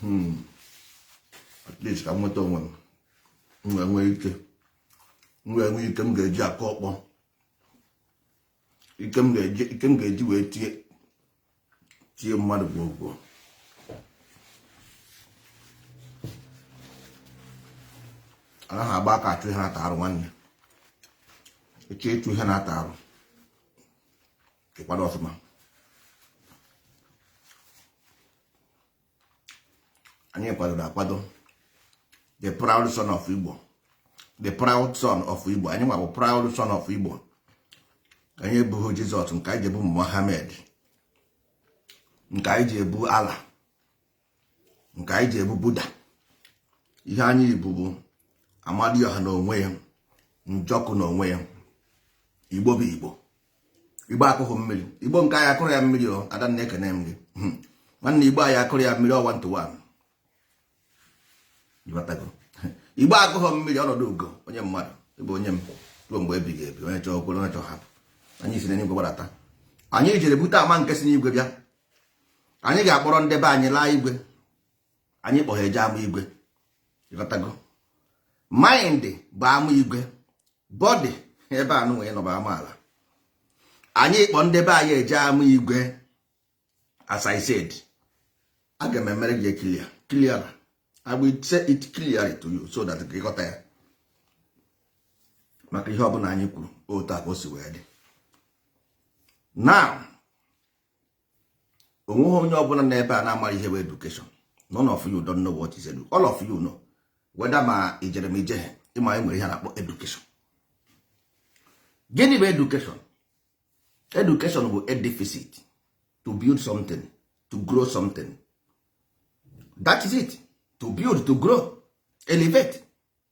Hmm. at least ka m nweta onwe m m wee nwee ike m wee nwee ike m ga-eji akụ ọkpọ ike m ga-eji ike m ga-eji wee tie tie mmadụ gwogwo anaghị agba aka achụ ihe na-ata arụ nwanne ị chọọ ịchụ ihe na-ata arụ ị kwado ọfụma anyị kwadoro akwado the proud son of Igbo the proud son of Igbo anyị nwa bụ proud son of Igbo anyị ebughị Jizọs nke anyị ji ebu Mohammed nke anyị ji ebu Allah nke anyị ji ebu Buddha ihe anyị bu bụ Amadioha na onwe ya Njọkụ na onwe ya igbo bụ igbo igbo akụghị mmiri igbo nke anyị akụrụ ya mmiri o Adanna ekene m gị hmm. nwanne igbo anyị akụrụ ya mmiri one to one igbo akụghị mmiri ọnọdụ ugo onye mmadụ ị bụ onye m ruo mgbe ebighị ebi onye chọọ o kwere onye chọọ hapụ anyị si n'eluigwe gbadata anyị jere bute ama nke si n'igwe bịa anyị ga-akpọrọ ndị be anyị laa igwe anyị kpọ ha eje ama igwe ịghọtago mind bụ ama igwe body ebe a nụnwa ị nọ bụ ama ala anyị kpọ ndị be anyị eje ama igwe as i said aga m emere gị clear clear i will say it clearly to you so that gị ghọta ya maka ihe ọbụla anyị kwuru otu a ka o si wee dị now onweghị onye ọbụla n'ebe a na-amara ihe bụ education none of you don't know what is education all of you know whether ma i jere ma i jeghe ị ma e nwere ihe a na-akpọ education gịnị bụ education education bụ edificit to build something to grow something that is it to build to grow elevate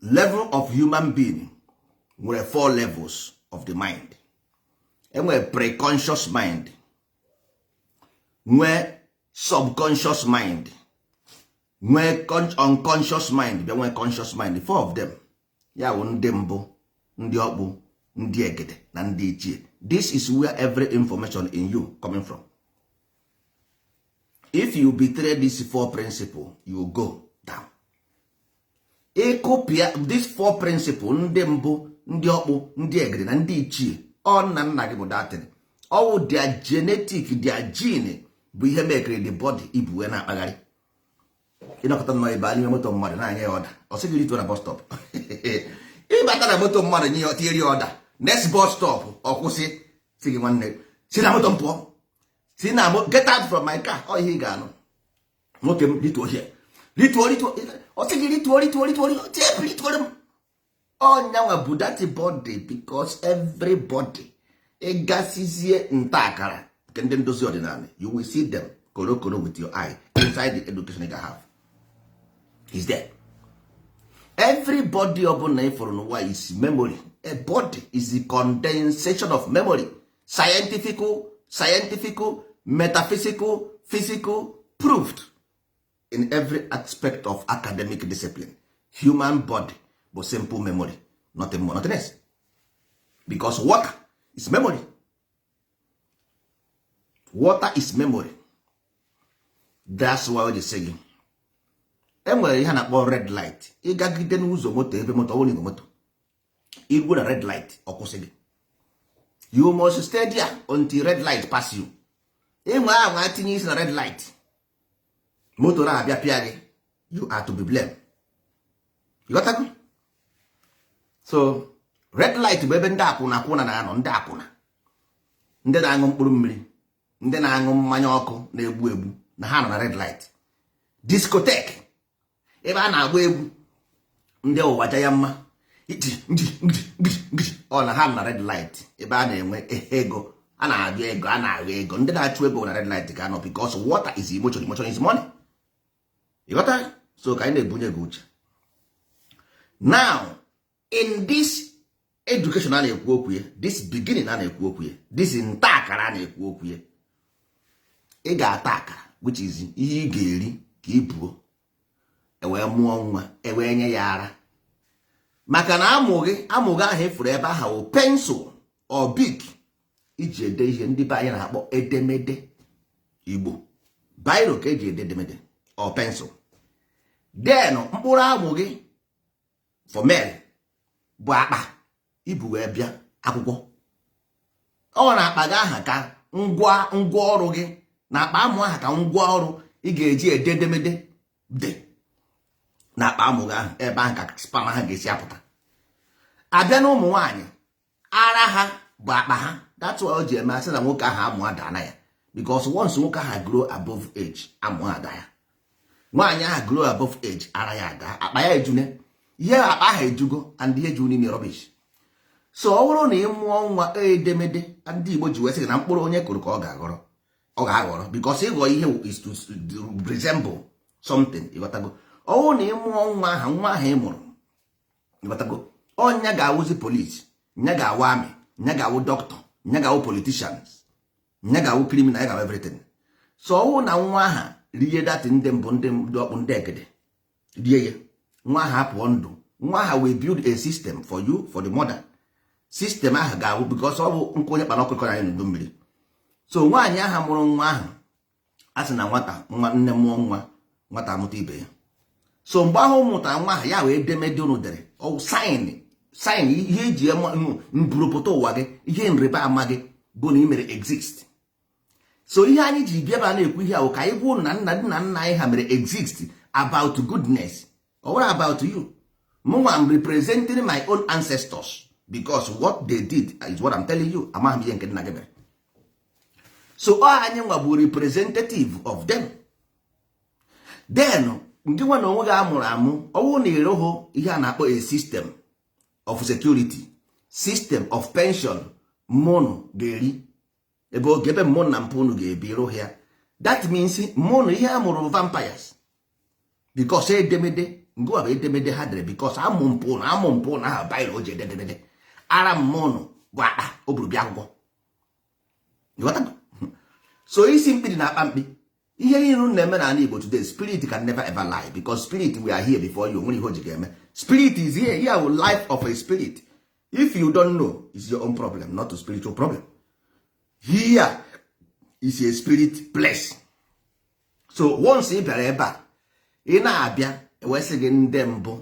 level of human being nwere four levels of the mind enwere preconscious mind nwee subconscious mind nwee unconscious mind bịa nwee conscious mind four of them ya bụ ndị mbụ ndị ọkpụ ndị egede na ndị ichie this is where every information in you coming from if you betray this four principle you go ịkụpịa this four principle ndị mbụ ndị ọkpụ ndị egede na ndị ichie ọ nna nna gị bụ that thing ọ wụ their genetic their gene bụ ihe mekere the body i bu wee na-akpagharị ị nọkọta nọ ibe n'ime moto mmadụ na-enye ya order ọ sị gị rituo na bus stop ị bata na moto mmadụ nye ya tinyere ya order next bus stop ọ kwụsị sị gị nwanne si na moto m pụọ si na get out from my car ọ ihe ị ga-anụ nwoke m rituo here rituo rituo ọ sị gị rituo rituo rituo rituoro m ọ nyanwa bụ that body because every body ị gasịzie nta akara nke ndị ndozi ọdịnala you will see them korokoro with your eye inside the education you have is there every body ọbụla ị fụrụ n'ụwa is memory a body is the condensation of memory scientific scientific metaphysical physical proved in every aspect of academic discipline human body bụ simple memory nothing more nothing else because water is memory water is memory that's why they say enwere ihe na-akpọ red light ịgagide n'ụzọ moto ebe moto ọwụrụ igwe moto i ruo na red light ọ kwụsị gị you must stay there until red light pass you ịnwe ahụ ma tinye isi na red light moto na-abịa pịa gị you are to be blamed ịghọtago so red light bụ ebe ndị akwụna akwụna na-anọ ndị akwụna ndị na-aṅụ mkpụrụ mmiri ndị na-aṅụ mmanya ọkụ na-egbu egbu na ha nọ na red light discotheque ebe a na-agba egwu ndị ụwa ja ya mma ọ na ha nọ na red light ebe a na-enwe ego a na-ajụ ego a na-agụ ego ndị na-achụ ego na red light ka ha nọ because water is emotion emotion is money ịghọta so ka anyị na-ebunye gị uche now in this education a na-ekwu okwu ya this beginning a na-ekwu okwu ya this nta akara a na-ekwu okwu ya ị ga-ata akara which is ihe ị ga-eri ka ị buo e wee mụọ nwa e wee nye ya ara maka na amụ gị amụ gị ahụ ị fụrụ ebe aha wụ pencil or Bic i ji ede ihe ndị be anyị na-akpọ edemede Igbo biro ka e ji ede edemede or pencil then mkpụrụ amụ gị for male bụ akpa i bu wee bịa akwụkwọ ọ na akpa gị aha ka ngwa ọrụ gị na akpa amụ aha ka ngwa ọrụ ị ga-eji ede edemede dị na akpa amụ gị ahụ ebe ahụ ka sperm ha ga-esi apụta a bịa na ụmụ nwaanyị ara ha bụ akpa ha that's why o ji eme a sị na nwoke ahụ amụ adana ya because once nwoke ahụ grow above age amụ ada ya nwaanyị ahụ grow above age ara ya ada akpa ya ejune ihe akpa ahụ ejugo and ihe ju n'ime rubbish so ọ bụrụ na ị mụọ nwa e edemede ndị Igbo ji wee sị na mkpụrụ onye kụrụ ka ọ ga-aghọrọ ọ ga-aghọrọ because ịghọ ihe is to resemble something ịghọtago ọ bụrụ na ị mụọ nwa aha nwa ahụ ị mụrụ ịghọtago ọ nya ga-awụzi police nya ga-awụ army nya ga-awụ doctor nya ga-awụ politicians nya ga-awụ criminal ya ga-awụ everything so ọwụ na nwa aha rie dati ndị mbụ ndị ọkpụ ndị egede rie ya nwa aha apụọ ndụ nwa aha will build a system for you for the mother system aha ga-awụ because ọ bụ nkụ onye kpara ọkụ ka ọ na-anya n'udu mmiri so nwaanyị aha mụrụ nwa aha a sị na nwata nwa nne mụọ nwa nwata amụta ibe ya so mgbe ahụ mụta nwa ahụ ya wụ edemede unu dere ọwụ sign sign ihe e ji mbụrụpụta ụwa gị ihe nrịba ama gị bụ na ị mere exist so ihe anyị ji bịaba na-ekwu ihe a wụ ka anyị gwa unu na nna nna nna anyị ha mere exist about goodness ọ wụrọ about you mụnwa am representing my own ancestors because what they did is what I'm telling you amaghị m ihe nke nna gị mere so ọ anyị nwa bụ representative of them then gị nwa na onwe gị a mụrụ amụ ọwụ na ịrụghụ ihe a na-akpọ a system of security system of pension ụmụ unu ga-eri ebe oge ebe ụmụ unu na mpụ unu ga-ebi rụghị ya that means ụmụ unu ihe a mụrụ vampires because edemede ngụwa bụ edemede ha dere because amụ mpụ na amụ mpụ na aha biro o ji ede edemede ara mmụọ nụ bụ akpa o buru bịa akwụkwọ so isi mkpi dị na akpa mkpi ihe niile unu na-eme n'ala Igbo today spirit can never ever lie because spirit were here before you nwere ihe o ji ga-eme spirit is here here wụ life of a spirit if you don't know is your own problem not a spiritual problem here is a spirit place so once ị bịara ebe a ị na-abịa ewesị gị ndị mbụ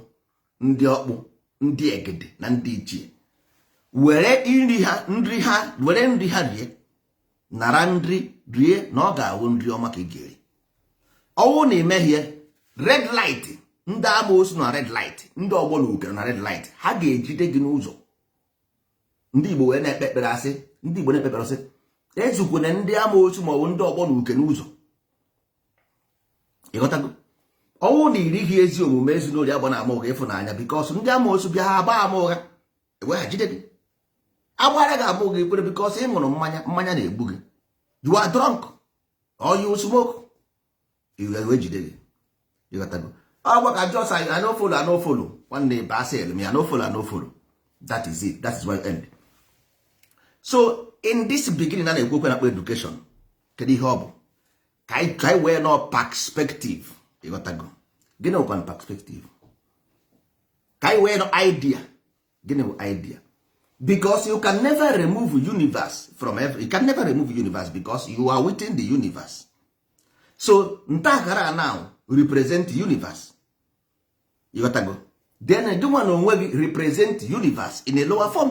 ndị ọkpụ ndị egede na ndị ichie were nri ha nri ha were nri ha rie nara nri rie na ọ ga-awụ nri ọma ka ị ga-eri ọwụ na imehie red light ndị amoosu na red light ndị ọgbọ na uke na red light ha ga-ejide gị n'ụzọ ndị igbo wee na-ekpe ekpere asị ndị igbo na-ekpe ekpere asị ezukwana ndị amoosu maọbụ ndị ọgbọ na uke n'ụzọ ịghọtago ọwụ na irighị ezi omume ezinụlọ agbana ama ụgha ịfụnanya because ndị amoosu bịa ha agba ama ụgha ewe ha jide gị a gbara gị ama ụgha i kwere because ị ṅụrụ mmanya mmanya na-egbu gị you are drunk or you smoke e wee jide gị ịghọtago ọgwa ka just I no follow I no follow nwanne ibe asị elu me I no follow I no follow that is it that is why end so in this beginning a na-ekwu okwu ihe a na-akpọ education kedu ihe ọ bụ ka anyị wee nọ perspective ịghọtago gịnị bụkwa perspective ka anyị wee nọ idea gịnị bụ idea because you can never remove universe from every you can never remove universe because you are within the universe so ntakara now represent universe ịghọtago then gịnwa na onwe gị represent universe in a lower form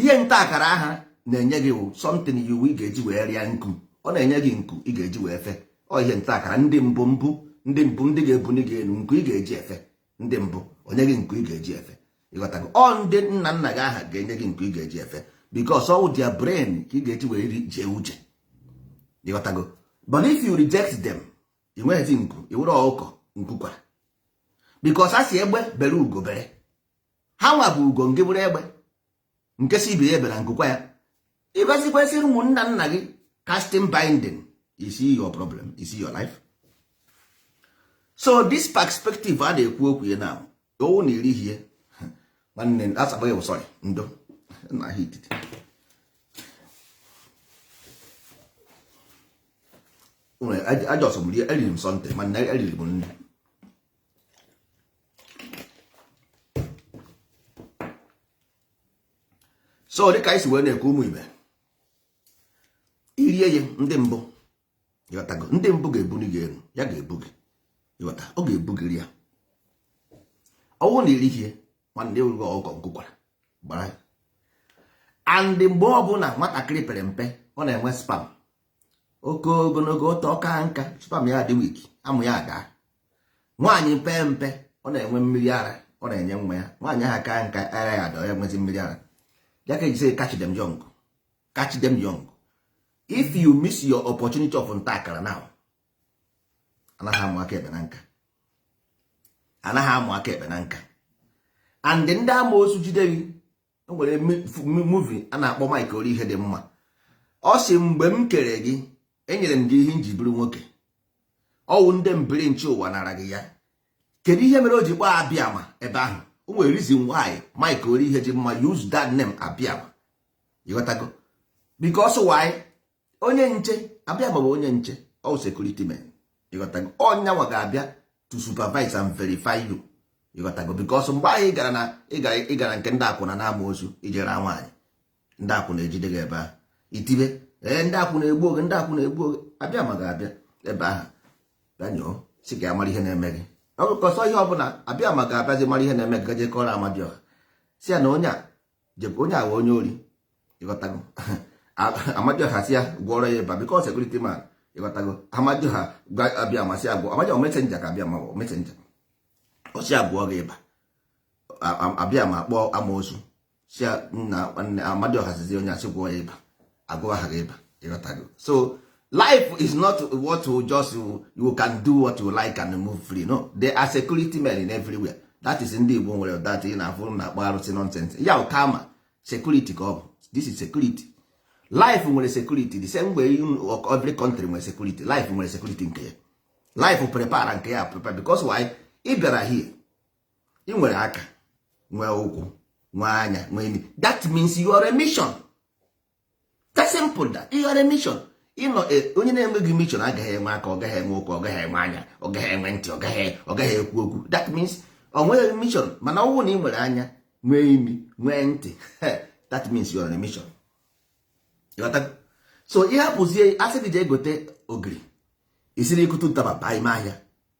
ihe nta akara aha na-enye gị wụ something you ị ga-eji wee rịa nku ọ na-enye gị nku ị ga-eji wee fe ọ ihe nta akara ndị mbụ mbụ ndị mbụ ndị ga-ebuli gị elu nku ị ga-eji efe ndị mbụ enye gị nku ị ga-eji efe ịghọtago ọ ndị nna nna gị aha ga-enye gị nku ị ga-eji efe because ọwụ their brain ka ị ga-eji wee ri jee uche ịghọtago but if you reject them ị nweghịzi nku ị wụrụ ọkụkọ nku kwara because a sị egbe bere ugo bere ha nwa bụ ugo nke bụrụ egbe nke si ibe ya ebena nku kwaa ya ịgọzikwesịrị ụmụnna nna gị casting binding is your problem is your life so this perspective a na-ekwu okwu ya na ọwụ na i ri ihe nwanne asagba ya sorry ndo na ahịa ititi ajọsọ m rie eriri m something mana eriri m nri so dịka anyị si wee na-ekwu ụmụ ibe irie ya ndị mbụ ịghọtago ndị mbụ ga-ebuli gị elu ya ga-ebu gị ịghọta ọ ga-ebu gị rịa ọwụ na i ri ihe nwanne ị wụgo ọkụkọ nku kwara gbara and mgbe ọbụla nwatakịrị pere mpe ọ na-enwe sperm oke ogologo ọtọ ọ kaa nka sperm ya dị weak amụ ya adaa nwaanyị pee mpe ọ na-enwe mmiri ara ọ na-enye nwa ya nwaanyị ahụ akaa nka ara ya adaa ya enwezi mmiri ara ya ka e ji sị catch them young catch them young if you miss your opportunity of nta akara now anaghị amụ aka ekpe na nka anaghị amụ aka ekpe na nka and ndị amosu jide gị o nwere movie a na-akpọ Mike Orihedimma ọ sị mgbe m kere gị enyere m gị ihe nji bụrụ nwoke ọwụ ndị mbiri nche ụwa nara gị ya kedu ihe mere o ji kpọọ Abịama ebe ahụ o nwere reason why Mike Orihedimma use that name Abịama ịghọtago because why onye nche Abịama wụ onye nche ọ security men ịghọtago ọ ya nwa ga-abịa to supervise and verify you ịghọtago because mgbe ahụ ị gara na ị gara nke ndị akwụna na amosu i jere nwaanyị ndị akwụna ejide gị ebe ahụ i tibe ee ndị akwụna egbu oge ndị akwụna egbu oge Abịama ga-abịa ebe ahụ bịa nyoo sị ka ya mara ihe na-eme gị ọgụkọsọ ihe ọbụla Abịama ga-abịazi mara ihe na-eme gị gaje kọrọ Amadioha sị ya na onye a jebe onye a wụ onye ori ịghọtago amadioha si ya gwọrọ ya ịba because security man ịghọtago amadioha abịama sị agwọ amadioha messenger ka abịama messenger ọ sị agwọ gị ịba abịama akpọọ amosu sị ya na amadioha sizi onye asị gwọọ ya ịba agwọ ha gị ịba ịghọtago so life is not what you just you can do what you like and move free no there are security men in everywhere that is ndị Igbo nwere that ị na-afụ na-akpọ arụsị nonsense ya kama security ka ọ bụ this is security life nwere security the same way every country nwere security life nwere security nke ya life prepare nke ya prepare because why ị bịara here ị nwere aka nwee ụkwụ nwee anya nwee imi that means you are a mission that's simple that you are a mission ịnọ e, onye na-enweghị mission agaghị enwe aka ọ gaghị enwe ụkwụ ọ gaghị enwe anya ọ gaghị enwe ntị ọ gaghị ọ gaghị ekwu okwu that means ọ nweghị mission mana ọ bụrụ na ị nwere anya nwee imi nwee ntị that means you are on a mission so ịhapụzie asị gị jee gote ogiri isiri ikụtụ ntaba baa ime ahịa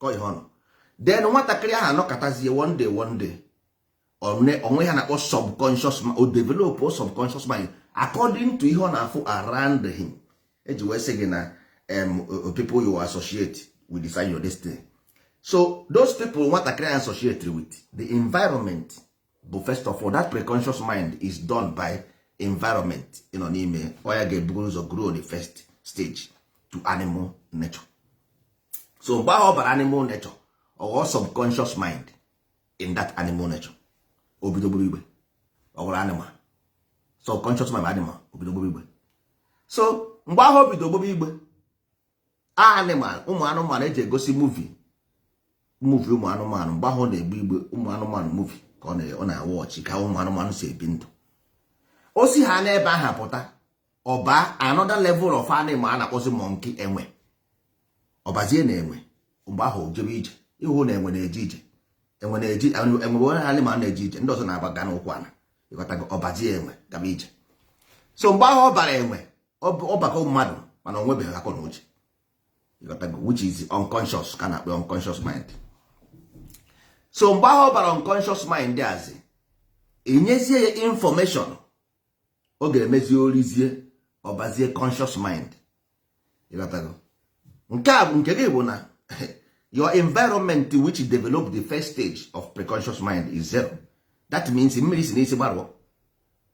kọ ihe ọnụ then nwatakịrị ahụ anọkọtazie one day one day o nwe ihe a na-akpọ subconscious mind o develop subconscious mind according to ihe ọ na-afụ around him eji wee sị gị na people you associate with decide your destiny so those people nwatakịrị ahụ associate with the environment but first of all that preconscious mind is done by environment ị nọ n'ime ọ ya ga-ebugoro ụzọ grow the first stage to animal nature so mgbe ahụ ọ bara animal nature ọ ghọọ subconscious mind in that animal nature o bido gburu igbe ọ ghọrọ animal subconscious mind animal o bido gburu igbe so mgbe ahụ o bido gburu igbe animal ụmụ anụmanụ eji egosi movie movie ụmụ anụmanụ mgbe ahụ na-egbu igbe ụmụ anụmanụ movie ka ọ na-awatch ka ụmụ anụmanụ si ebi ndụ o si ha n'ebe aha pụta ọ baa another level of animal a na-akpọzi monkey enwe ọbazie na enwe mgbe ahụ jebe ije ịhụ na enwe na-eje ije enwe na-eje enwe bụ only animal na-eje ije ndị ọzọ na-agbaga n'ụkwụ anọ ịghọtago ọbazie enwe gaba ije so mgbe ahụ ọ bara enwe ọbakọ mmadụ mana ọ nwebeghị akọ na uche which is unconscious ka a na-akpọ unconscious mind so mgbe ahụ ọ bara unconscious mind that's enyezie ya information ọ ga-emezi orizie ọbazie conscious mind ịghọtago nke a bụ nke gị bụ na your environment which develop the first stage of preconscious mind is zero that means mmiri si n'isi gbarụọ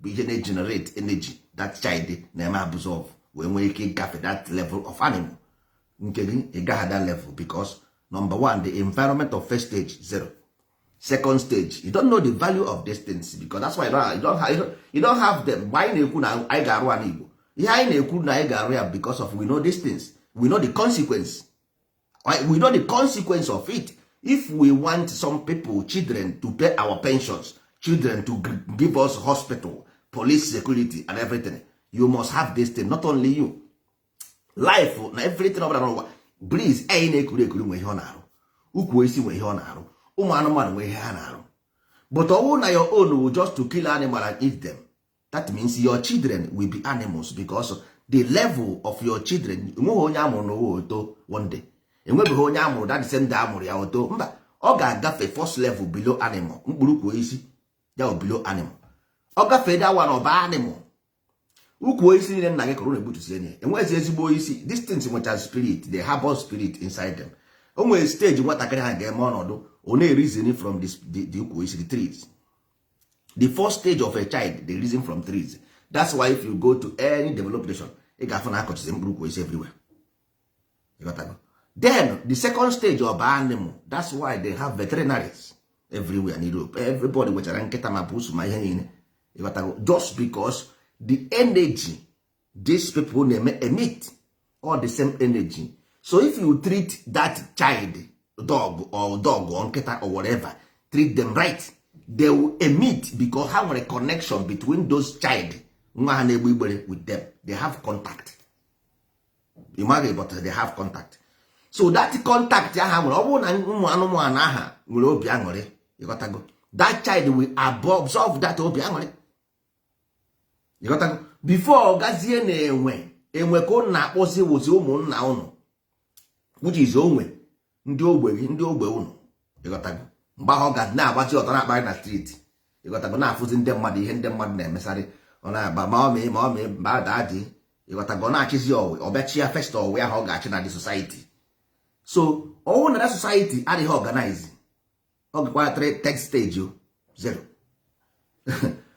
bụ ihe na-egenerate energy that child na-eme absorb wee nwee ike ịgafe that level of animal nke gị ị gaghị that level because number one the environment of first stage zero second stage you don't know the value of these things because that's why you don't, you don't, have, you don't have them mgbe anyị na-ekwu na anyị ga-arụ ala Igbo ihe anyị na-ekwu na anyị ga-arụ ya because of we know these things we know the consequence we know the consequence of it if we want some people children to pay our pensions children to give us hospital police security and everything you must have this thing not only you life na everything ọbụla n'ụwa breeze anyị na-ekuru ekuru nwe ihe ọ na-arụ ukwu osisi nwe ihe ọ na-arụ ụmụ anụmanụ nwe ihe ha na-arụ but ọ wụ na your own wụ just to kill animal and eat them that means your children will be animals because the level of your children enweghị onye a mụrụ n'ụwa o too one day enwebeghị onye a mụrụ that same day a mụrụ ya o too mba ọ ga-agafe first level below animal mkpụrụ ukwu osisi ya bụ below animal ọ gafee that one ọ baa animal ukwu osisi niile nna gị kụrụ na-egbutusie ya enweghịzi ezigbo isi these things nwechara spirit they harbor spirit inside them o nwere stage nwatakịrị aha ga-eme ọ nọdụ ọ na-ereason from the ukwu osisi the trees the first stage of a child they reason from trees that's why if you go to any developed nation ị ga-afụ na a kọchizi mkpụrụ ukwu osisi everywhere then the second stage of animal that's why they have veterinaries everywhere in Europe everybody nwechara nkịta ma pusu ma ihe niile ịghọtago just because the energy these people na-eme emit all the same energy so if you treat that child dog or dog or nkịta or whatever treat them right they will emit because ha nwere connection between those child nwa aha na-egbe igbere with them they have contact ị maghị but they have contact so that contact aha nwere ọ bụrụ na ụmụ anụmanụ aha nwere obi aṅụrị ịghọtago that child will absorb that obi aṅụrị before ọ gazie na enwe enwe ka ụnụ na-akpọzi wụzi ụmụnna ụnụ which is onwe ndị ogbe gị ndị ogbe ụnụ ịghọtago mgbe ahụ ọ ga na-agbachi ọtọ na-akparị na street ịghọtago na-afụzi ndị mmadụ ihe ndị mmadụ na-emesarị ọ na-agba mummy mummy mba daddy ịghọtago ọ na-achịzi ọwụ ọ bịa chịa first ọwụ ahụ ọ ga-achị na the society so ọ wụ na society adịghị organize ọ gakwara third stage zero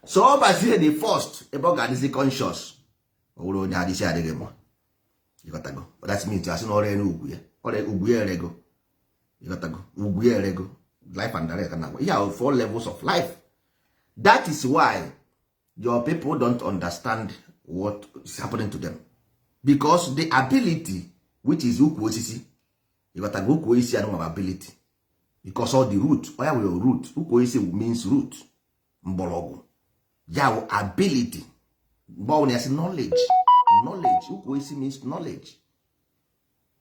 so ọ bazie the first ebe ọ ga-adịzi conscious ọ bụrụ onye isi adịghị mma ịghọtago that means a sị na ọrịa elu ugwu ya ọrịa ugwu ya erego ịghọtago ugwu ya erego life and direct na ihe ahụ four levels of life that is why your people don't understand what is happening to them because the ability which is ukwu osisi ịghọtago ukwu osisi anụnwa ability because all the root oya were root ukwu osisi bụ means root mgbọrọgwụ ya bụ ability mgbe ọbụla ya si knowledge knowledge ukwu osisi means knowledge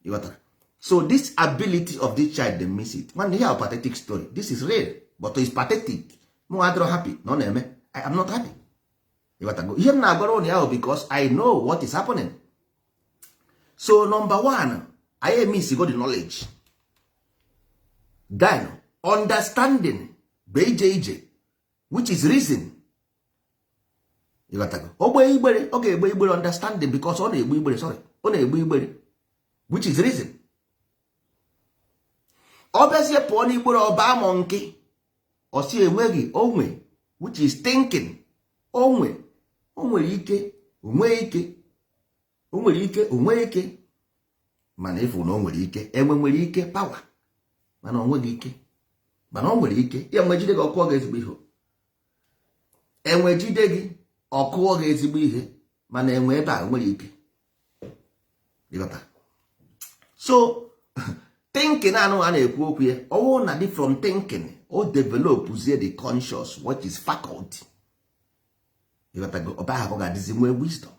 ịghọta so this ability of this child they miss it nwanne ihe a pathetic story this is real but it's pathetic mụ adịrọ happy na ọ na-eme i am not happy ịghọtago ihe m na-agwara ụnụ ahụ because i know what is happening so number 1 anyị emissigo the knowledge then understanding bụ ije ije which is reason o gbe igbere ọ ga-egbe igbere understanding because ọ na-egbe igbere sorry ọ na-egbe igbere which is reason ọ bịazie pụọ n'igbere ọ baa monkey ọ sị enweghị onwe which is thinking onwe o nwere ike o nwee ike o nwere ike o nwere ike mana ị fụ na o nwere ike enwe nwere ike power mana o nweghị ike mana o nwere ike ya enwe jide gị ọ kụọ gị ezigbo ihe enwe jide gị ọ kụọ gị ezigbo ihe mana enwe ebe a nwere ike so thinking anụ a na-ekwu okwu ya ọ wụ na dị from thinking o developzie the conscious which is faculty ịghọtago ọba aha ka ọ ga-adịzi nwee wisdom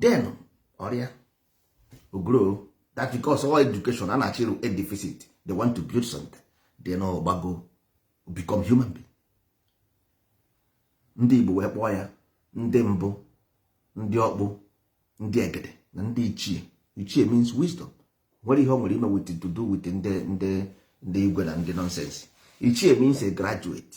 then ọ rịa ogro that because all education a na-achịrụ edifice they want to build something then ọ gbago become human being ndị Igbo wee kpọọ ya ndị mbụ ndị ọkpụ ndị egede na ndị ichie ichie means wisdom nwerọ ihe o nwere ime with to do with ndị ndị ndị igwe na ndị nonsense ichie means a graduate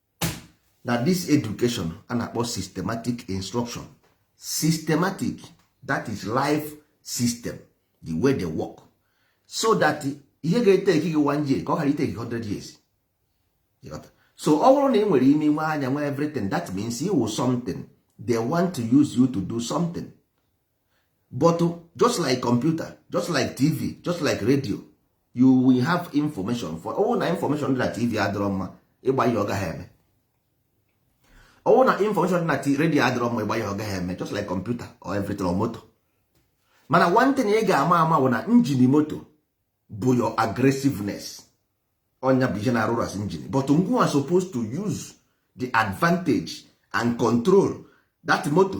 na this education a na-akpọ systematic instruction systematic that is life system the way they work so that ihe ga-etake gị one year ka ọ ghara itake 100 years so ọ bụrụ na ị nwere imi nwee anya nwee everything that means ị wụ something they want to use you to do something but just like computer just like tv just like radio you will have information for ọ wụ na information dị na tv adịrọ mma ị gbanye ọ gaghị eme ọ wụ na information dị na radio adịrọ mma ị gbanye ọ gaghị eme just like computer or everything or moto mana one thing ị ga-ama ama bụ na engine moto bụ your aggressiveness ọ nya bụ ihe na-arụ as engine but ngịwa supposed to use the advantage and control that moto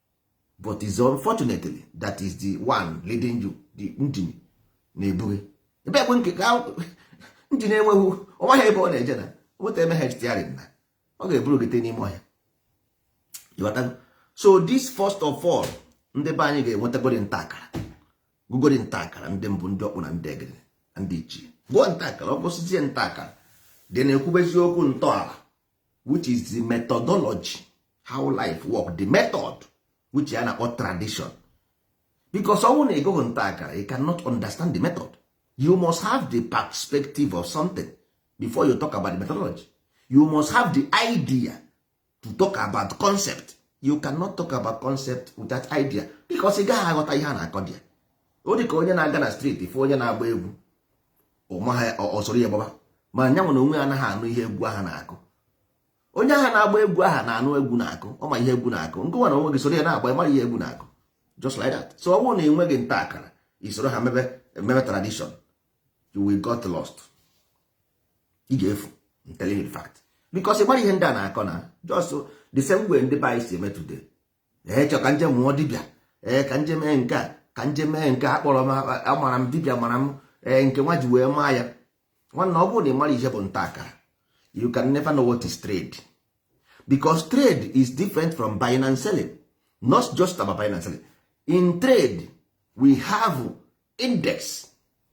but is unfortunately that is the one leading you the engine na-ebu gị ebe ekwe nke ka engine enweghị ọ maghị ebe ọ na-eje na nweta emehie steering na ọ ga-eburu gị n'ime ọhịa so this first of all ndị be anyị ga-enwetagodi nta akara gụgodi nta akara ndị mbụ ndị ọkpụ na ndị egede na ndị ichie gụọ nta akara ọ gụsịzie nta akara then e kwubezie okwu ntọala which is the methodology how life work the method which a na-akpọ tradition because ọ bụrụ na ị gụghị nta akara you cannot understand the method you must have the perspective of something before you talk about the methodology you must have the idea to talk about concept you cannot talk about concept without idea because ị gaghị aghọta ihe a na-akọ dị ya ọ dị ka onye na-aga na street fụ onye na-agba egwu o soro ya gbaba ma nya nwa na onwe ya anaghị anụ ihe egwu aha na-akụ onye aha na-agba egwu aha na-anụ egwu na-akụ ọ ma ihe egwu na-akụ ngị nwa na onwe gị soro ya na-agba ị mara ihe egwu na-akụ just like that so ọ bụrụ na ị nweghị nta akara i soro ha mebe mebe tradition you will got lost ị ga-efu I'm telling you the fact because ị mara ihe ndị a na-akọ na just the same way ndị be anyị si eme today ee chọ ka m je mụọ dibịa ee ka m je mee nke a ka m je mee nke a kpọrọ m amara m dibịa mara m ee nke nwa ji wee maa ya nwanna ọ bụrụ na ị mara ihe bụ nta akara you can never know what is trade because trade is different from buying and selling not just about buying and selling in trade we have index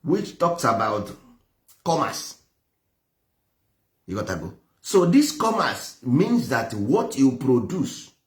which talks about commerce ị ghọtago so this commerce means that what you produce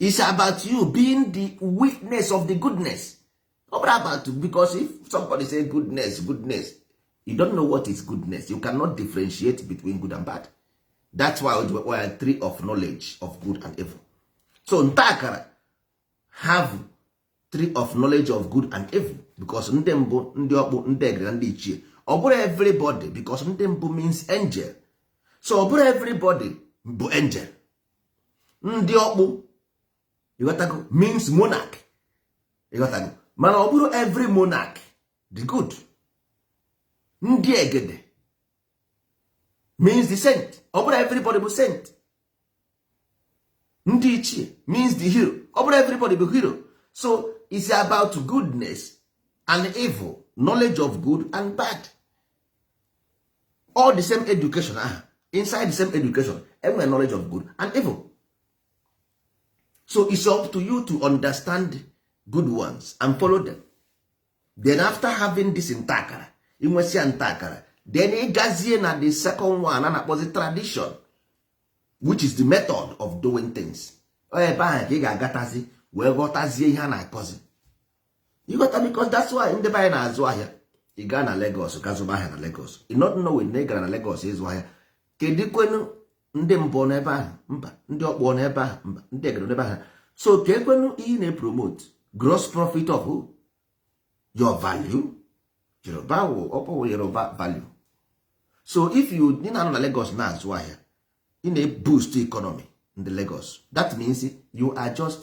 is about you being the witness of the goodness ọ bụrọ about you because if somebody say goodness goodness you don't know what is goodness you cannot differentiate between good and bad that's why we have tree of knowledge of good and evil so ntakara have tree of knowledge of good and evil because ndị mbụ ndị ọkpụ ndị egede ndị ichie ọ bụrọ everybody because ndị mbụ means angel so ọ bụrọ everybody bụ angel ndị ọkpụ ị ghọtago means monarch ị ghọtago mana ọ bụrọ every monarch dị good ndị egede means the saint ọ bụrọ everybody bụ saint ndị ichie means the hero ọ bụrọ everybody bụ hero so it's about goodness and evil knowledge of good and bad all the same education aha inside the same education e nwere knowledge of good and evil so it's up to you to understand good ones and follow them then after having this ntakara i nwesịa ntakara then ị gazie na the second one a na-akpọzi tradition which is the method of doing things ebe ahụ ka ị ga-agatazi wee ghọtazie ihe a na-akọzi ị ghọta because that's why ndị be anyị na-azụ ahịa ị gaa na Lagos ka zụba ahịa na Lagos ị not know na ị gara na Lagos ịzụ ahịa kedu kwenu ndị mbụ n'ebe ahụ mba ndị ọkpọ n'ebe ahụ mba ndị egere n'ebe ahụ so kee kwenu ihe na-epromote gross profit of who? your value yoruba wụ ọkpọwụ yoruba value so if you ị na-anọ na Lagos na-azụ ahịa ị na-eboost economy ndị Lagos that means you are just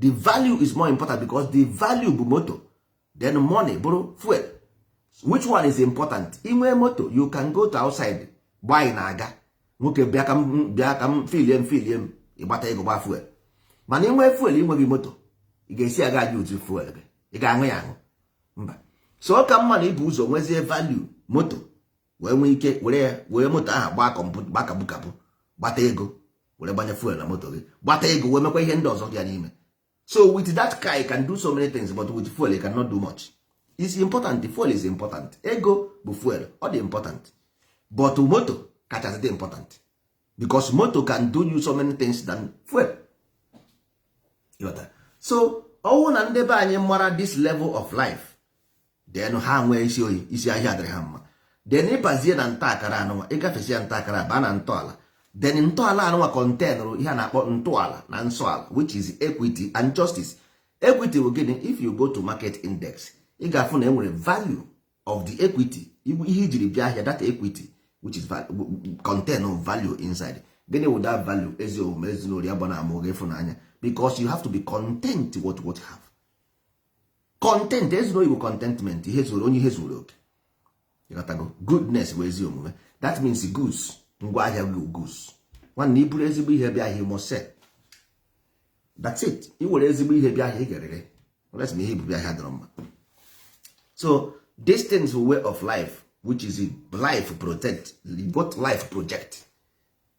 the value is more important because the value bụ moto then money bụrụ fuel which one is important i nwee moto you can go to outside gbaa ị na-aga nwoke bịa ka m bịa ka m filie m filie m ị gbata ego gba fuel mana i nwee fuel i nweghị moto ị ga-esi aghaa use fuel gị ị ga-aṅụ ya aṅụ mba so ọ ka mma na i bu ụzọ nwezie value moto wee nwee ike were ya were moto ahụ gbaa kọmputa gbaa kabukabu gbata ego were gbanye fuel na moto gị gbata ego wee mekwa ihe ndị ọzọ dị ya n'ime so with that car you can do so many things but with fuel you cannot do much is important fuel is important ego bụ fuel ọ dị important but moto kachasị dị important because moto can do you so many things than fuel so ọ wụ na ndị be anyị mara this level of life then ha nwee isi oyi isi ahịa adịrị ha mma then ị bazie na nta akara anụnwa ị gafesịa nta akara baa na ntọala then ntọala anụnwa containụrụ ihe a na-akpọ ntọala na nsọ ala which is equity and justice equity bụ gịnị if you go to market index ị ga-afụ na e nwere value of the equity ihe i jiri bịa ahịa that equity which is contain of value inside gịnị wụ that value ezi omume ezinụlọ ya bụ na amụ gị ịfụnanya because you have to be content with what you have content ezuru oyibo contentment ihe zuru onye ihe zuru oke ị ghọtago goodness bụ ezi omume that means goods ngwa ahịa gị goods nwanne i buru ezigbo ihe bịa ahịa must sell that's it i were ezigbo ihe bịa ahịa ị ga-ere ere unless na ihe i bu bịa ahịa adịrọ mma so this thing is a way of life which is life project what life project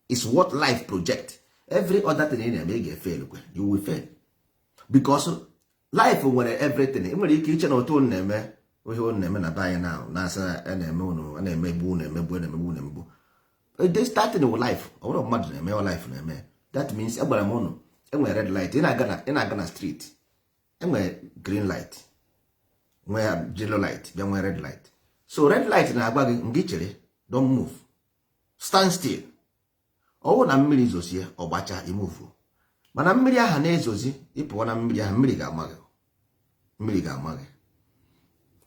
is what life project every other thing ị na-eme ị ga-efailụkwa you will fail because life nwere everything ị nwere ike iche na otu unu na-eme ihe unu na-eme na be anyị na na-asa a na-eme unu a na-emegbu unu emegbu a na-emegbu unu emegbu this starting with life ọ bụrọ mmadụ na-eme ọ life na-eme that means agwara m unu enwere red light ị na-aga na street enwere green light nwee yellow light bịa nwee red light so red light na-agwa gị ngị chere don't move stand still ọ wụ na mmiri zozie ọ gbacha ị move mana mmiri aha na-ezozi ị pụọ na mmiri ahụ mmiri ga-ama gị mmiri ga-ama gị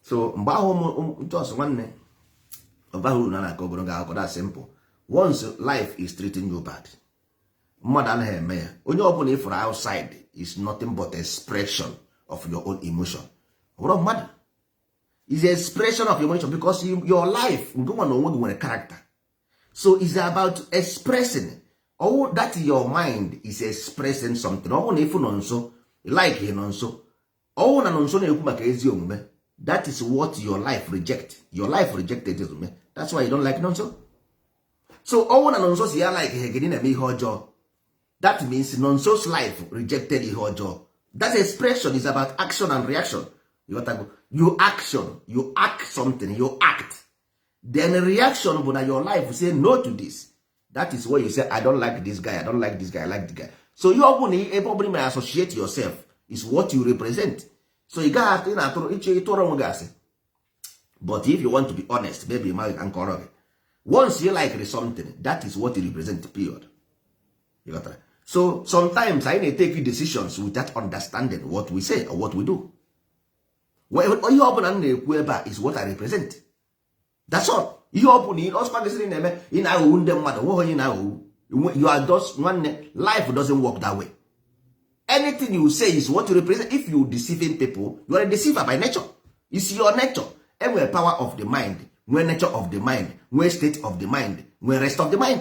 so mgbe ahụ just nwanne ọbaghị uru na na-akọ ogologo akụkọ that simple once life is treating you bad mmadụ anaghị eme ya onye ọbụla ị fụrụ outside is nothing but expression of your own emotion bụrọ mmadụ is expression of emotion because your life nke nwa na onwe gị nwere character so is about expressing ọ wụ that your mind is expressing something ọ wụ na ị fụ Nọnso likeghị Nọnso ọ wụ na Nọnso na-ekwu maka ezi omume that is what your life reject your life rejected ezi omume that's why you don't like Nọnso so ọ wụ na Nọnso sị ya likeghị gị ị na-eme ihe ọjọọ that means Nọnso's life rejected ihe ọjọọ that expression is about action and reaction you, you action you act something you act then reaction bụ na your life say no to this that is why you say i don't like this guy i don't like this guy i like the guy so ihe ọ bụla ebe ọ bụla ma associate yourself is what you represent so ị gaghị atụ ị na-atụrụ ị chọ ịtụrụ onwe gị asị but if you want to be honest maybe ma ka m kọọrọ gị once you like something that is what you represent period you got that? so sometimes anyị na-etake decisions without understanding what we say or what we do ihe ọ bụla m na-ekwu ebe a is what I represent that's all ihe ọ bụla ọ sọkwa gị sịrị na-eme ị na-aghọgbu ndị mmadụ nweghị onye ị na-aghọgbu you are just nwanne life doesn't work that way anything you say is what you represent if you deceiving people you are a deceiver by nature is your nature enwere power of the mind nwee nature of the mind nwee state of the mind nwee rest of the mind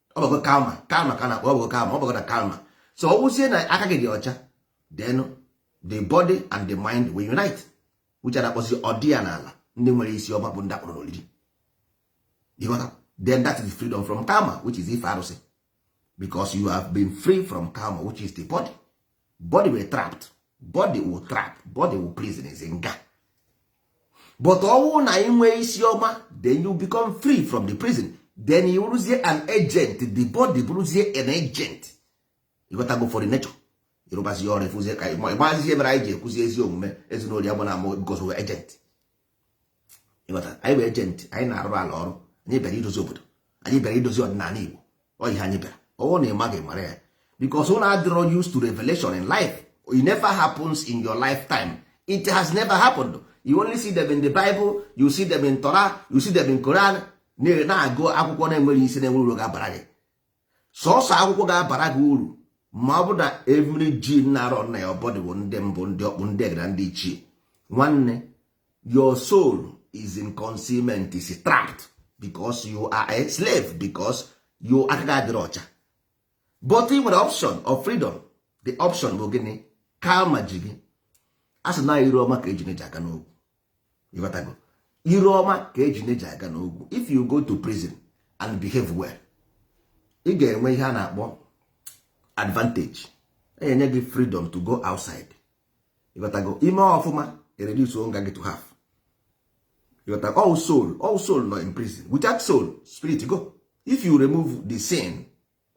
ọ bụgo karma karma ka a na-akpọ ọ bụgo karma ọ bụgo na karma so ọ wụzie na aka gị dị ọcha then the body and the mind will unite which a na-akpọzi ọdị ya n'ala ndị nwere isi ọma bụ ndị akpọrọ n'olili ị ghọta then that is freedom from karma which is ife arụsị because you have been free from karma which is the body body wụ trap body wụ trap body wụ prison is nga but ọ wụ na i nwee isi ọma then you become free from the prison then ị wụrụzie an agent the body bụrụzie an agent ị ghọtago for the nature ị rụbazi ọrụ efuzie ka ị gbazi ihe mere anyị ji ekwuzi ezi omume ezinụlọ ya bụ na amụ because ị wụ agent anyị bụ agent anyị na-arụ ala ọrụ anyị bịara idozi obodo anyị bịara idozi ọdịnala Igbo ọ ihe anyị bịara ọ wụ na ị maghị mara ya because unu adịrọ used to revelation in life it never happens in your lifetime it has never happened you only see them in the Bible you see them in Torah you see them in Quran na-agụ akwụkwọ na-enwerọ isi na-enwerọ uru ga-abara gị sọsọ akwụkwọ ga-abara gị uru ma ọ bụ na every gene na-arun na your body bụ ndị mbụ ndị ọkpụ ndị egede ndị ichie nwanne your soul is in concealment is trapped because you are a slave because you aka gị adịrọ ọcha but ị nwere option of freedom the option bụ gịnị karma ji gị a sị na ire ọma ka ejune ji aga n'ogwu ịghọtago ire ọma ka ejune ji aga n'ogwu if you go to prison and behave well ị ga-enwe ihe a na-akpọ advantage e nye gị freedom to go outside ịghọtago i mee ọfụma e reduce nga gị to half ịghọta all soul all soul nọ in prison without soul spirit go if you remove the sin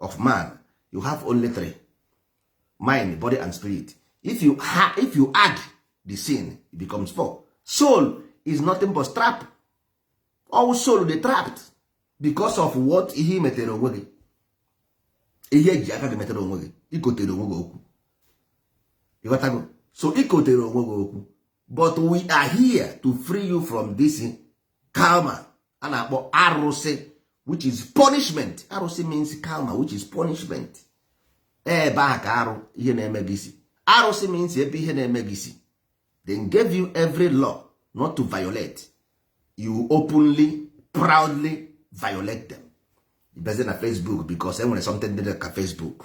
of man you have only three mind body and spirit if you, ha, if you add the sin it becomes four soul is nothing but trap all soul dey trapped because of what ihe i metere onwe gị ihe i ji aka gị metere onwe gị i kotere onwe gị okwu ịghọtago so i kotere onwe gị okwu but we are here to free you from this karma a na-akpọ arụsị which is punishment arụsị means karma which is punishment ebe ahụ ka arụ ihe na-eme gị si arụsị means ebe ihe na-eme gị si they gave you every law not to violate you openly proudly violate them i bezi na Facebook because enwere something dị ka Facebook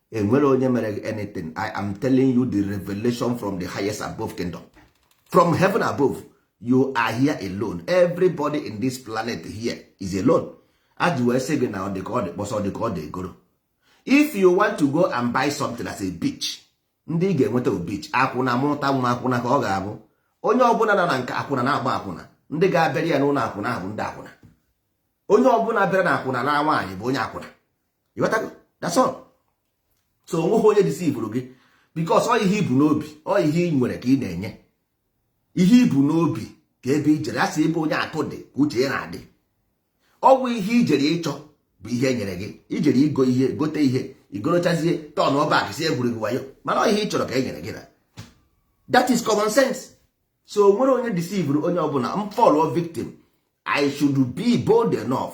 enwerọ onye mere gị anything i am telling you the revelation from the highest above kingdom from heaven above you are here alone everybody in this planet here is alone e ji wee sị gị na ọ dị ka ọ dị kpọsa ọ dị ka ọ dị egoro if you want to go and buy something as a bitch ndị ị ga-enweta bitch akwụna mụta nwa akwụna ka ọ ga-abụ onye ọbụla na na nke akwụna na-agba akwụna ndị ga-abịara ya n'ụlọ akwụna ahụ ndị akwụna onye ọbụla bịara na akwụna na nwaanyị bụ onye akwụna ịghọtago that's all so onweghị onye deceive-uru gị because ọ ihe i bu n'obi ọ ihe ị nwere ka ị na-enye ihe i bu n'obi ka ebe i jere asị ebe onye akụ dị ka uche ya na-adị ọ bụ ihe i jere ịchọ bụ ihe e nyere gị i jere igo ihe gote ihe i gorochazie turn back ị sị e gwuru gị wayo mana ọ ihe ị chọrọ ka e nyere gị na that is common sense so onwerọ onye deceive-uru onye ọbụla m fall-ụọ victim i should be bold enough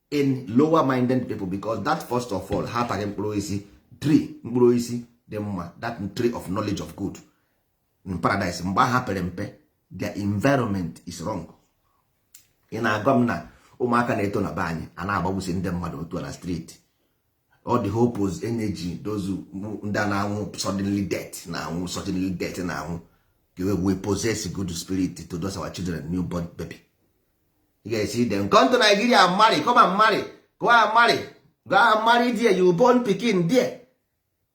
in lower minded people because that first of all ha ataghị mkpụrụ osisi tree mkpụrụ osisi dị mma that tree of knowledge of good in paradise mgbe ha pere mpe their environment is wrong ị na-agwa m na ụmụaka na-eto na be anyị a na-agbagbusi ndị mmadụ otu na street all the hopeless energy those ndị a na-anwụ suddenly death na-anwụ suddenly death na-anwụ we possess good spirit to those our children new born baby ị ga-esi dem come to Nigeria marry come and marry go and marry go and marry there you born pikin there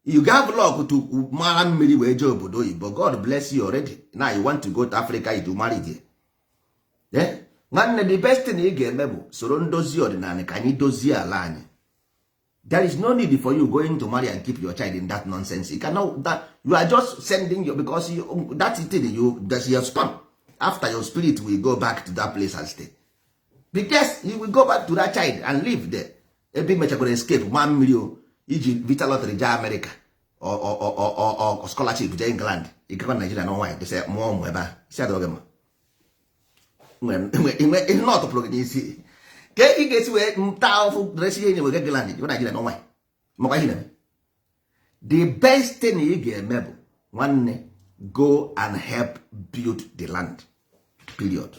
you have luck to mara mmiri wee jee obodo oyibo God bless you already now you want to go to Africa you do marry there eh? nwanne the best thing ị ga-eme bụ soro ndozi ọdịnala ka anyị dozie ala anyị there is no need for you going to marry and keep your child in that nonsense you cannot that you are just sending your because you, that thing you that's your sperm after your spirit will go back to that place and stay because you will go back to that child and live there ebe mechagoro escape ma mmiri o iji vita lottery jee America or scholarship jee England ịgakwa Nigeria na nwaanyị dose mụọ ụmụ ebe a si adọghị mma ihe na ọtụpụrụ gị n'isi ka ị ga-esi wee na-ata ahụfụ resi ihe nye wee get land jebe Naijiria n'ọnwa makwa ihe na-eme the best thing ị ga-eme bụ nwanne go and help build the land period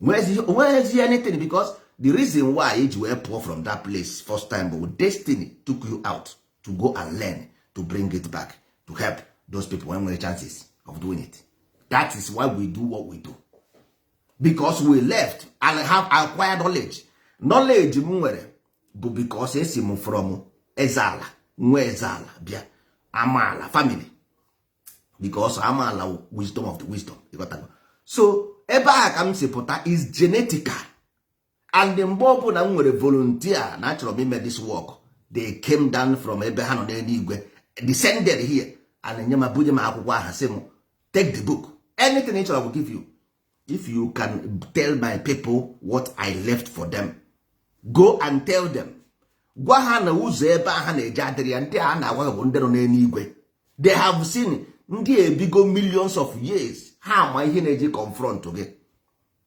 o nweghịzi anything because the reason why i ji wee pụọ from that place first time bụ destiny took you out to go and learn to bring it back to help those people when nwere chances of doing it that is why we do what we do because we left and have acquired knowledge knowledge m nwere bụ because esi m from eze ala nwa eze ala bịa amaala family because amaala wisdom of the wisdom so ebe a ka m si pụta is genetical and mgbe ọbụla m nwere volunteer na achọrọ m ime this work they came down from ebe ha nọ n'eluigwe descended here and enye m ebunye m akwụkwọ a ha sị m take the book anything ị chọrọ will give you if you can tell my people what I left for them go and tell them gwa ha na ụzọ ebe a ha na-eje adịrị ya ndị a na-agwa bụ ndị nọ n'eluigwe they have seen ndị ebigo millions of years ha ma ihe na-eji confront gị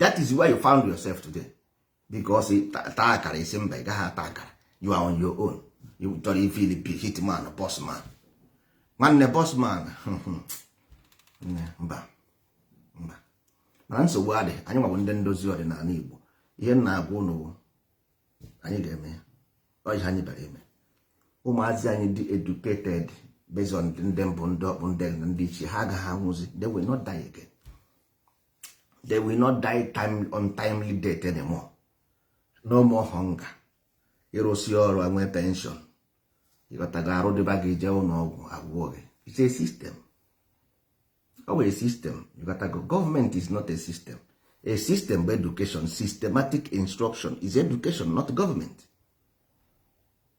that is where you found yourself today because taa akara ị sị mba ị gaghị ata akara you are on your own ị chọrọ ifili bi hitman boss man nwanne boss man mba mba mana nsogbu adị anyị nwa bụ ndị ndozi ọdịnala Igbo ihe m na-agwa ụnụ anyị ga-eme ya ọ ihe anyị bịara ime ụmụazị anyị dị educated based on ndị mbụ ndị ọkpụ ndị ndị ichie ha agaghị anwụzi they will not die again they will not die untimely death anymore no more hunger ị rụsịa ọrụ enwe pension ị ghọtago arụ dịba gị jee ụlọ ọgwụ a gwọọ gị it's a system o nwee system ị ghọtago government is not a system a system bụ education systematic instruction is education not government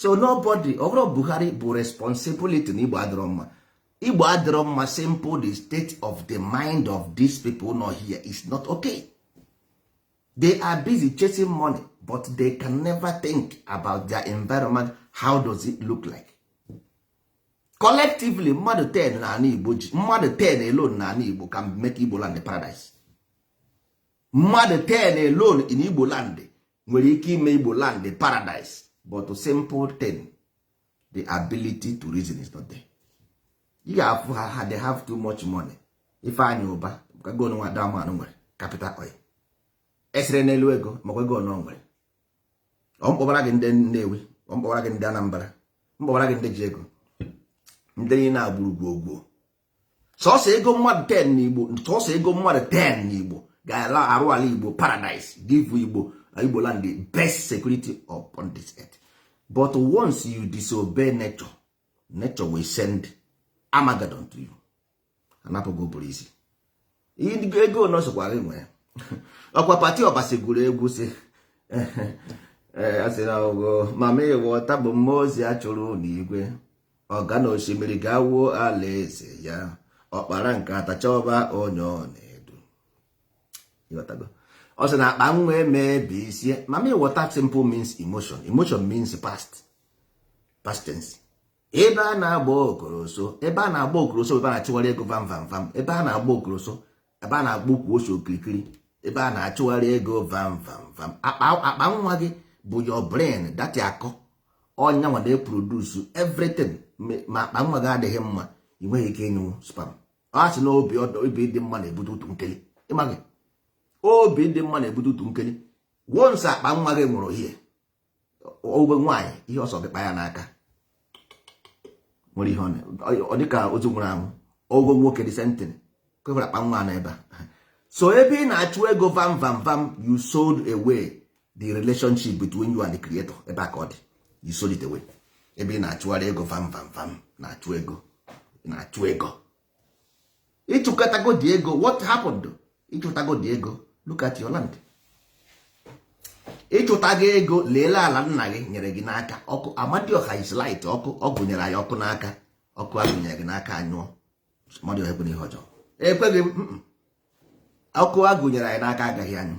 so nobody ọ bụrọ Buhari bụ responsibility na Igbo adịrọ mma Igbo adịrọ mma simple the state of the mind of these people nọ here is not okay they are busy chasing money but they can never think about their environment how does it look like collectively mmadụ 10 na ala Igbo ji mmadụ 10 alone na ala Igbo can make Igbo land paradise mmadụ 10 alone in Igbo land nwere ike ime igbo land a paradise but simple thing the ability to reason is not there ị ga-afụ ha ha they have too much money ifeanyi ụba ego nwa damanụ nwere capital oil esere n'elu ego makwa ego na ọ nwere ọ m kpọbara gị ndị nnewi ọ m kpọbara gị ndị anambra m kpọbara gị ndị ji ego ndị na-agburu gwogwo sọsọ ego mmadụ 10 na igbo sọsọ ego mmadụ 10 na igbo gaara arụ ala igbo paradise give igbo igbo land the best security upon this earth but once you disobey nature nature will send Armageddon to you anapụgo ụbụrụ isi ego na ọ sọkwa gị nwere ọkwa patty obasi gụrụ egwu si asị na ọ bụ mamịwọta bụ mmụọ ozi a chụrụ n'igwe ọ gaa na osimiri gaa wuo alaeze ya ọ kpara nkata chọba onye ọ na-edu ọ sị na akpa nwa emebisie mamịwọta simple means emotion emotion means past past tense ebe a na-agba okoroso ebe a na-agba okoroso ebe a na-achụgharị ego vam vam vam ebe a na-agba okoroso ebe a na-agba ukwu ose okirikiri ebe a na-achụgharị ego vam vam vam akpa nwa gị bụ your brain that akọ ọ ya nwa na-eproduce everything ma akpa nwa gị adịghị mma ị nweghị ike ịnyụ sperm a sị na obi ụtọ obi dị mma na-ebute utu nkeli ịmaghị obi dị mma na-ebute utu nkeli once akpa nwa gị nwụrụ ihe ọ bụ nwaanyị ihe ọ sọ gị kpa ya n'aka nwere ihe ọ dịka ozu nwụrụ anwụ ọ bụ nwoke the same thing kwefere akpa nwa n'ebe a so ebe ị na-achụ ego vam vam vam you sold away the relationship between you and the creator ebe a ka ọ dị you sold it away ebe ị na-achụgharị ego vam vam vam na-achụ ego na-achụ ego ịchụkatagodi ego what happened ịchụtagodi ego look at your land ịchụtago ego leele ala nna gị nyere gị n'aka ọkụ amadioha is light ọkụ ọ gụnyere anyị ọkụ n'aka ọkụ agụnyere gị n'aka anyụọ amadioha ekweghị ihe ọjọọ ekweghị ọkụ agụnyere anyị n'aka agaghị anyụ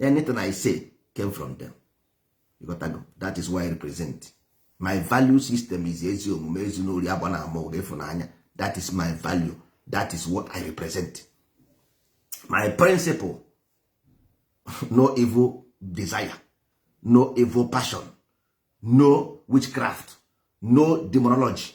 anything i say came from them you got to go that is why i represent my value system is ezi omume ezi n'ori agba na ama ụga ịfụnanya that is my value that is what i represent my principle no evil desire no evil passion no witchcraft no demonology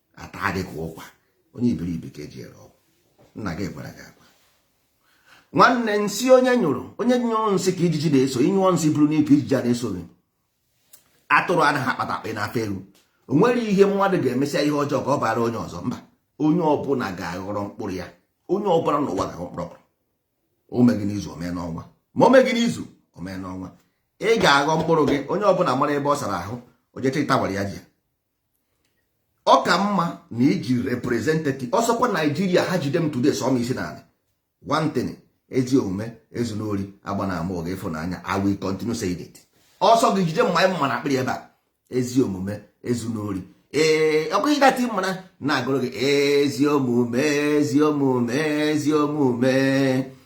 ata gị ka ụkwa onye iberibe ka eji ere ọgwụ nna gị gwara gị agwa nwanne nsị onye nyụrụ onye nyụrụ nsị ka ijiji na-eso ị nyụọ nsị buru n'ike ijiji a na-eso gị atụrụ anaghị akpata akpa n'afọ elu o nwere ihe mmadụ ga-emesịa ihe ọjọọ ka ọ bara onye ọzọ mba onye ọbụla ga-aghọrọ mkpụrụ ya onye ọbụla n'ụwa ga-aghọ mkpụrụ ọbụla o meghị n'izu o mee n'ọnwa ma o meghị n'izu o mee n'ọnwa ị ga-aghọ mkpụrụ gị onye ọbụla mara ebe ọ sara ahụ o je chịta gbara ya ji ya ọ ka mma na iji representative ọ sọkwa naijiria ha jide m today sọ m isi naanị one thing ezi omume ezuna ori agbana ama ụgha ịfụnanya i will continue saying it ọ sọ gị jide mma maa n'akpịrị ebe a ezi omume ezuna ori ee ọ bụghị that mma na-agụrụ gị ezi omume ezi omume ezi omume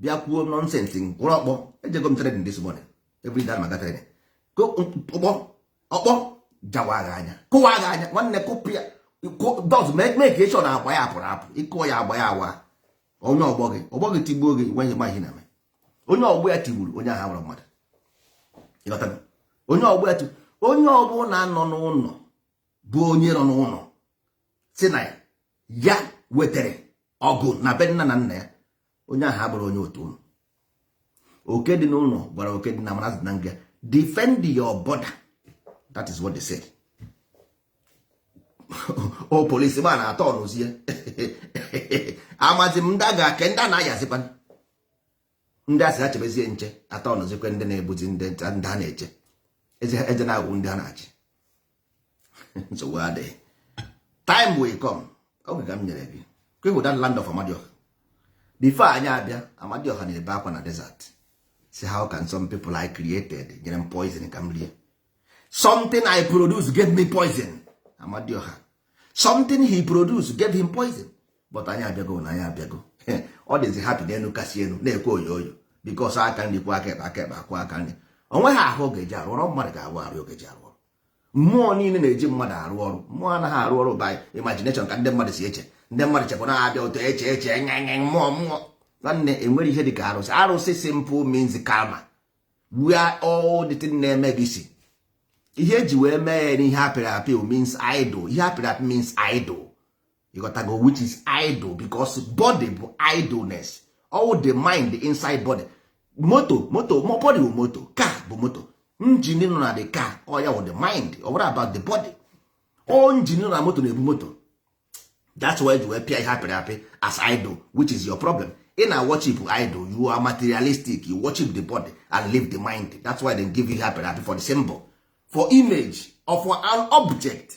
bịa kwuo nonsense gwụrụ ọkpọ ejego m training this morning every day m aga training ọkpọ ọkpọ jawaa gị anya kụwaa gị anya nwanne kụpụ ya just make sure na agba ya apụrụ apụ ị kụọ ya agba ya awa onye ọgbọ gị ọgbọ gị tigbuo gị nweghị maghị na onye ọgbọ ya tigburu onye ahụ nwere mmadụ onye ọgbọ ya tigburu onye ọbụla nọ n'ụlọ bụ onye nọ n'ụlọ si na ya wetara ọgụ na be nna na nna ya onye ahụ abụrụ onye otu ụlọ oke dị n'ụlọ gwara oke dị n'ama na azụ dị na ngịga defend your border that is what they said o oh, police ma na-atọnụzie amazi m ndị a ga-ake ndị a na-ayazikwa ndị a sị ha chebezie nche atọnụzikwe ndị na-egbuzi ndị ha na-eche eze na-egbu ndị ha na-achị nsogbu adịghị time will come oge ka m nyere gị kwehu that land of amadioha before anyị abịa amadioha na-ebe akwa na desert sị how can some people I created nyere m poison ka m rie something I produce gave me poison amadioha something he produce gave him poison but anyị abịago na anyị abịago ọ dịzi happy n'elu kasị elu na-ekwe oyoyo because aka nri kwọọ aka ekpe aka ekpe akwọọ aka nri o nweghị ahụ ọ ga-eji arụ ọrụ mmadụ ga-abụ arụ ọ ga-eji arụ ọrụ mmụọ niile na-eji mmadụ arụ ọrụ mmụọ anaghị arụ ọrụ by imagination ka ndị mmadụ si eche ndị mmadụ chekwa na abịa ụtọ eche eche nye nye mmụọ mmụọ nwanne enwere ihe dị ka arụsị arụsị simple means karma where all the thing na-eme gị si ihe eji wee mee ya n'ihe apịrị apị means idol ihe apịrị apị means idol ị ghọtago which is idle because body bụ idleness all the mind inside body moto moto body bụ moto car bụ moto engine nọ na the car ọ ya bụ the mind ọ bụrọ about the body ọ engine nọ na moto na-ebu moto that's why you wee pịa ihe apịrị apị as idol which is your problem ị na worship idol you are materialistic you worship the body and leave the mind that's why they give you ihe apịrị apị for the symbol for image or for an object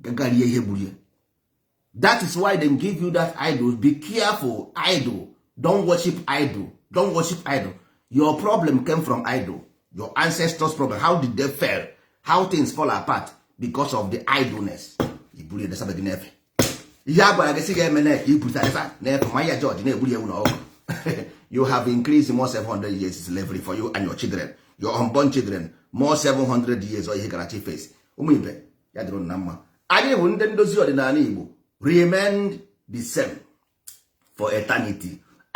gagarie ihe gburu ya that is why they give you that idol be careful idol don't worship idol don't worship idol your problem came from idol your ancestors problem how did they fail how things fall apart because of the idleness iburu ya desabeghị n'efe ihe a gwara gị si ga-eme na ka iburu tarifa n'efe ma ya jọji na-egburi ewu na ọkụkọ you have increased more 700 years slavery for you and your children your unborn children more 700 years ọ ihe gara chi face ụmụ ibe ya dịrị ụnụ na mma anyị wụ nde ndozi ọdịnala Igbo remain the same for eternity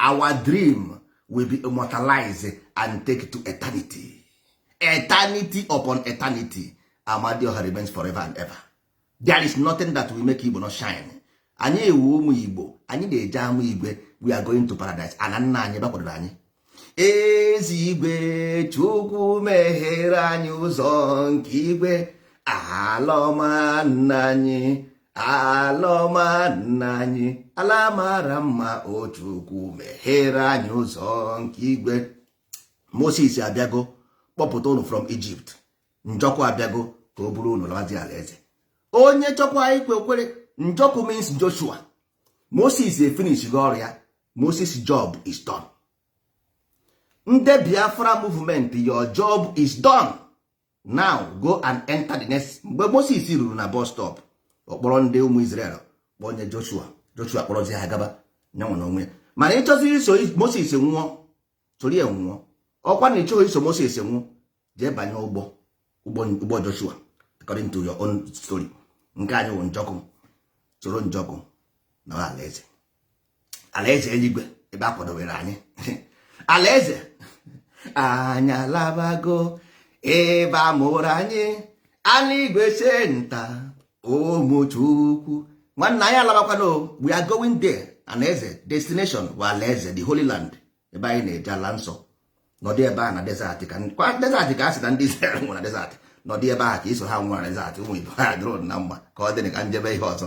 our dream will be immortalized and take to eternity eternity upon eternity Amadioha remains forever and ever there is nothing that will make Igbo not shine anyị wụ ụmụ Igbo anyị na-eje ama igwe we are going to paradise ana nna anyị ebe a kwadoro anyị eze igwe chukwu meghere anyị ụzọ nke igwe ala ọma nna anyị ala ọma nna anyị ala mara mma o chukwu meghere anyị ụzọ nke igwe moses abịago kpọpụta ụnụ from Egypt njọkụ abịago ka o buru ụnụ lazi alaeze onye chọkwa ikwe kwere njọkụ means Joshua Moses efinishgo ọrụ ya Moses job is done nde Biafra movement your job is done now go and enter the next mgbe Moses ruru na bus stop ọ kpọrọ ndị ụmụ Israel kpọnye Joshua Joshua kpọrọzi ha gaba ya nwa na onwe ya mana ị chọziri iso Moses nwụọ soro ya nwụọ ọ kwa na ị chọghị iso Moses nwụọ jee banye ụgbọ ụgbọ Joshua according to your own story nke anyị wụ njọkụ soro njọkụ naa alaeze alaeze eluigwe ebe a kwadowere anyị alaeze anyị alabago ebe a mụrụ anyị alaigwe center ụmụ chukwu nwanne anyị alabakwana we are going there alaeze destination bụ alaeze the holy land ebe anyị na-eje ala nsọ nọdụ ebe ahụ na desert ọ kwa desert ka a sị na ndị Israel nwụrụ na desert nọdụ ebe ahụ ka i so ha nwụọ na desert ụmụ ibe ya dịrị ụnụ na mma ka ọ dị ka m jebe ihe ọzọ